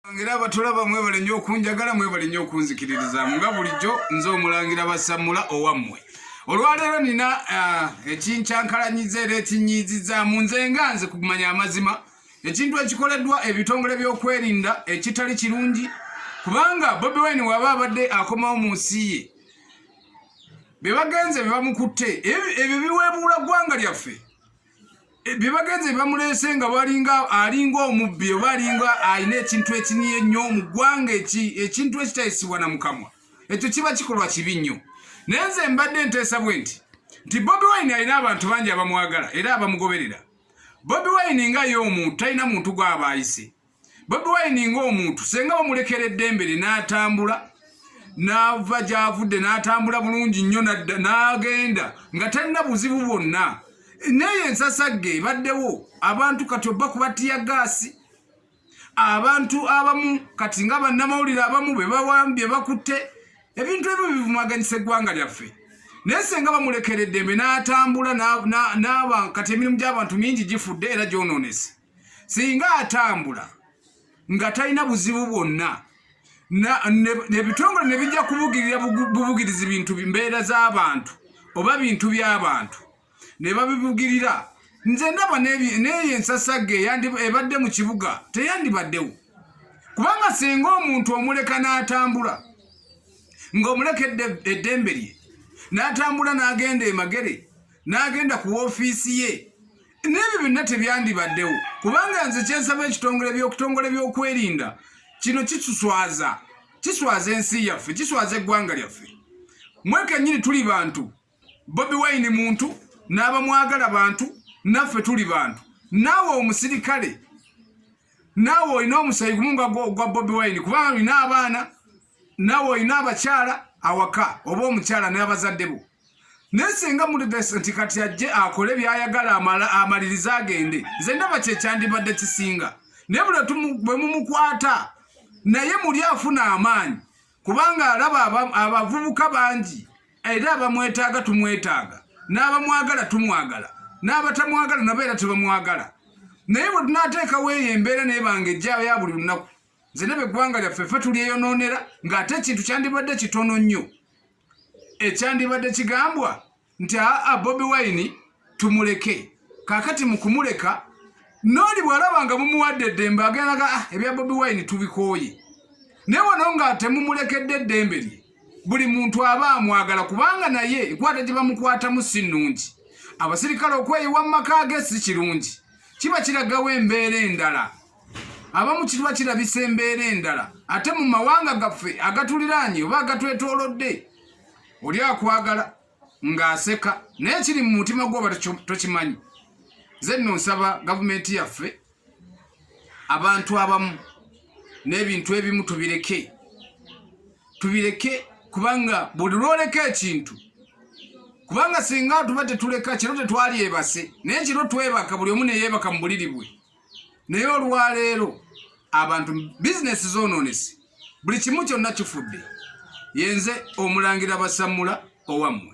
Mulangira abatulaba mwebale nnyo okunjagala mwebale nnyo okunzikiririzaamu nga bulijjo nze omulangira basammula owammwe olwaleero nina ah, ekinkyankalanyiza era ekinyiizizaamu nze nga nze kumanya amazima ekintu ekikoleddwa ebitongole by'okwerinda ekitali kirungi kubanga bobi wine waba abadde akomawo mu nsi ye bye bagenze bye bamukutte ebyo biweebuula ggwanga lyaffe eh, byebagenze bamuleese nga balinga alinga omubbi oba alinga alina ekintu ekiniye nnyo mu ggwanga ekintu ekitayisibwa na mukamwa ekyo kiba kikolwa kibi nnyo naye nze mbadde nteesa bwe nti nti bobi wine alina abantu bangi abamwagala era abamugoberera bobi wine nga ye omuntu talina muntu gwaba ayise bobi wine ng'omuntu senga bamulekera eddembe lye n'atambula n'ava gy'avudde n'atambula bulungi nnyo n'agenda nga talina buzibu bwonna naye ensasagge ebaddewo abantu kati obba kubatiya gaasi abantu abamu kati nga bannamawulire abamu be bawambye bakutte ebintu ebyo bivumaganyisa eggwanga lyaffe naye senga bamulekera eddembe n'atambula n'abantu kati emirimu gy'abantu mingi gifudde era gyononese singa atambula nga talina buzibu bwonna ebitongole ne bijja kubugirira bubugirizi bintu mbeera z'abantu oba bintu by'abantu ne babibugirira nze ndaba n'eyo ensasagge ebadde mu kibuga teyandibaddewo kubanga singa omuntu omuleka n'atambula ng'omuleka eddembe lye n'atambula n'agenda emagere n'agenda ku woofiisi ye n'ebyo byonna tebyandibaddewo kubanga nze kyensaba ekitongole byokutongole byokwerinda kino kituswaza kiswaza ensi yaffe kiswaza eggwanga lyaffe mwekenyini tuli bantu bobi wayini muntu n'abamwagala bantu naffe tuli bantu naawe omusirikale naawe olina omusayi gumu nga gwa bobi wayini kubanga olina abaana nawe olina abakyala awaka oba omukyala n'abazadde bo naye singa mulidesa nti kati ajje akole byayagala amalirize agende nze ndaba kyekyandibadde kisinga naye buli bwe mumukwata naye muli afuna amaanyi kubanga alaba abavubuka bangi era abamwetaaga tumwetaaga n'abamwagala tumwagala n'abatamwagala nabo era tebamwagala naye bwe tunateekawo eyo embeera naye bange ejjayo ya buli lunaku nze nebe eggwanga lyaffe fe tulyeyonoonera ng'ate ekintu kyandibadde kitono nnyo ekyandibadde kigambwa nti aa bobi wine tumuleke kakati mu kumuleka nooli bw'alaba nga mumuwadde eddembe agendaga ah, ebya bobi wine tubikooye naye wano nga temumulekedde eddembe lye buli muntu aba amwagala kubanga naye enkwata gye bamukwatamu si nnungi abasirikale okweyiwa mu maka ge si kirungi kiba kiragawo embeera endala abamu kiba kirabisa embeera endala ate mu mawanga gaffe agatuliraanye oba agatwetoolodde oli akwagala ng'aseka naye kiri mu mutima gwoba tokimanyi ze nno nsaba gavumenti yaffe abantu abamu n'ebintu ebimu tubireke tubireke kubanga buli lwoleka ekintu kubanga singa tuba tetuleka kiro tetwalyebase naye kiro twebaka buli omu neyeebaka mu buliri bwe naye olwaleero abantu bizinesi zonoonese buli kimu kyonna kifudde yenze omulangira basammula owammwe